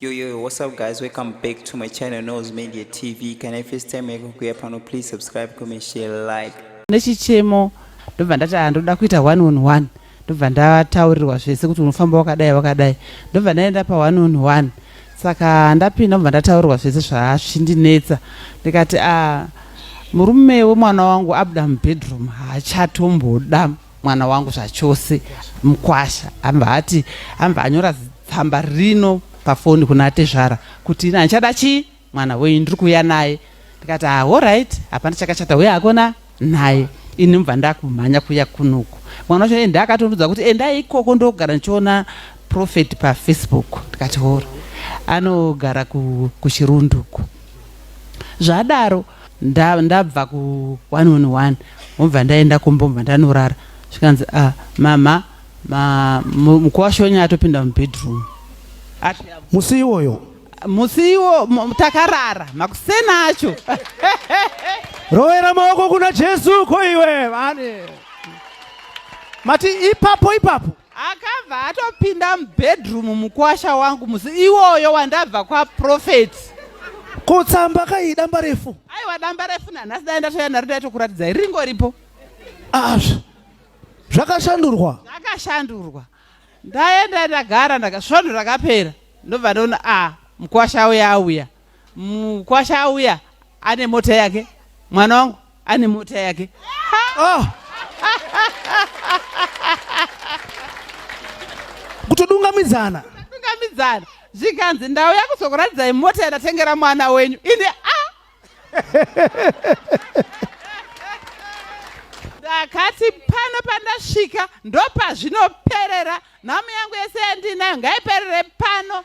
Yo yo yo, what's up guys? Welcome back to my channel Nose Media TV. Can I first time yako kuya pano please subscribe, comment, share, like. Nechichemo ndobva ndati ah ndoda kuita one on one. Ndobva ndataurirwa zvese kuti unofamba wakadai wakadai. Ndobva ndaenda pa one on one. Saka ndapinda ndobva ndataurirwa zvese zvazvindinetsa. Ndikati ah murume wemwana wangu abuda mubedroom haachatomboda. Ah, mwana wangu zvachose mukwasha amba ati amba anyora tsamba rino pafoni kuna tezvara kuti ina ndichada chii mwana wenyu ndiri kuuya naye ndikati ah, allright hapana chakachata uye hakona naye ini mubva ndakumhanya kuya kunuku mwana wacho enda akatonudza kuti endai ikoko ndogara ndichiona profet pafacebook ndikati hora anogara kuchirunduku zvadaro nda, ndabva ku 111 wobva ndaenda kumba obva ndanorara zvikanzi ah, mama ma, mu- mukuwashonya atopinda mubedroom Ati, musi iwoyo musi iwo mu- takarara makuseni acho rovera maoko kuna jesu ko iwe vane mati ipapo ipapo Akabva atopinda mubedroom mukwasha wangu musi iwoyo wandabva kwaprofet. Ko tsamba kai damba refu? Aiwa damba refu nanhasi dai ndatouya naro ndaitokuratidzai ringoripo. Ah, zv- zvakashandurwa. Zvakashandurwa. Ndaenda ndagara ndaka svondo rakapera. Ndobva ndaona ah mukwasha uya auya. Mukwasha auya ane mota yake, mwana wangu ane mota yake. Oh. Kutodungamidzana. Kutodungamidzana. Zvikanzi ndauya kuzokuratidzai mota yandatengera mwana wenyu. Ini ah. Ndakati pano pandasvika ndopazvinoperera. Nhamu yangu yese yandinayo ngaiperere pano.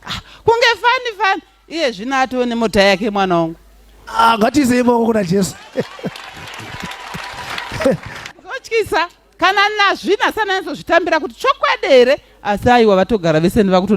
ah, kunge fani fani iye zvino atoo nemota yake mwana wangu ah, ngatizei maoko kuna jesu kotyisa kana nazvina sananizozvitambira kuti chokwadi here asi aiwa vatogara vese ndivakuto